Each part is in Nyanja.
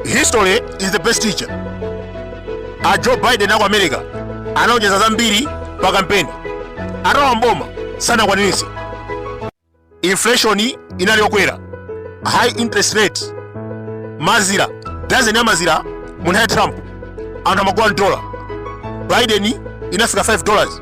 history is the best teacher a joe biden aku america analonjeza zambiri pa kampeni atawa mboma sanakwaniritse inflation inali yokwera high interest rate mazira dazeni ya mazira mu nthawi ya trump anthu amagula dola biden inafika 5 dollars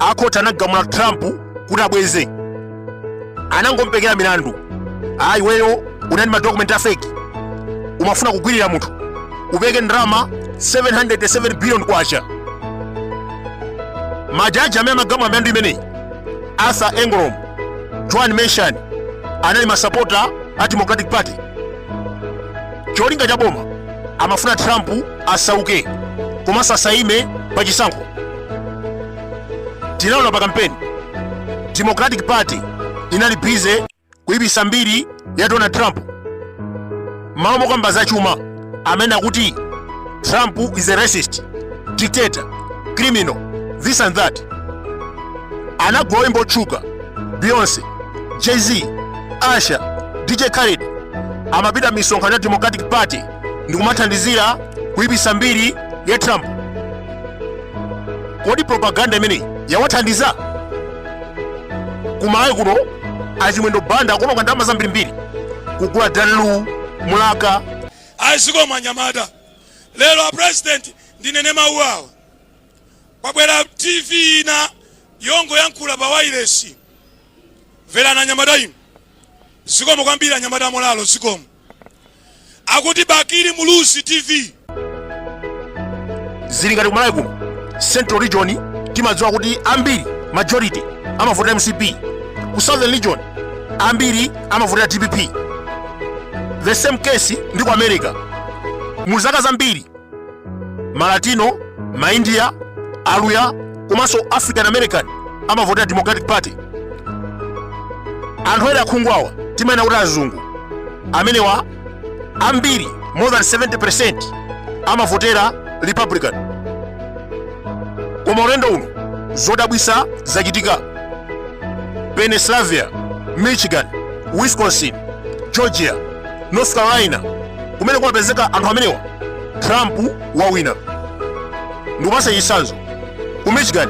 akhoti anamgamula trump kuti abweze anangompekera milandu ayi iweyo unali madokumenti a fake umafuna kugwiririra munthu upereke ndalama 707 billion kwacha majaji amene amagamula milandu imeneyi arthur engoron juan merchan anali masapota a democratic party cholinga cha boma amafuna trump asauke komanso asaime pa chisankho tinaona pa kampeni democratic party inali bize kuipisa mbiri ya donald trump malo mokamba za chuma amanena kuti trump is a racist dictator criminal this and that anagula oyimba otchuka beyonce jay-z Usher DJ Khaled amapita misonkhano ya Democratic Party ndi kumathandizira kuipisa mbiri ya Trump. Kodi propaganda imeneyi yawathandiza? Kumalawi kuno achimwendo banda akononga ndalama zambirimbiri kugula Dan Lu Mlaka a zikomo anyamata lero apresident ndinene mawu awa kwabwera tv ina yongoyankhula pa wailesi Mverani anyamata inu. Zikomo kwambiri anyamata a Mtolalo zikomo. Akuti Bakili Muluzi TV. zili ngati kumalawi kuno central region timadziwa kuti ambiri majority amavotera mcp ku southern region ambiri amavotera dpp the same case ndi ku america mu zaka zambiri malatino maindiya aluya komanso african american amavotera democratic party anthu ena akhungu awawa timayena kuti azungu amenewa ambiri more than 70 amavotera republican koma ulendo uno zodabwisa zachitika pennsylvania michigan wisconsin georgia north carolina kumene kumapezeka anthu amenewa trump wawina ndikupasa chisanzo ku michigan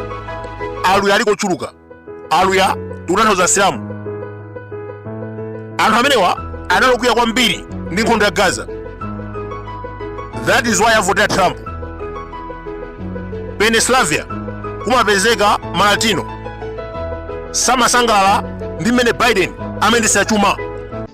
aluya aliko ochuluka aluya tikutanthauza asilamu anthu amenewa anali okwiya kwambiri ndi nkhondo ya gaza that is why avotera trump pennsylvania kumapezeka malatino samasangalala ndi mmene biden amayendetsa chuma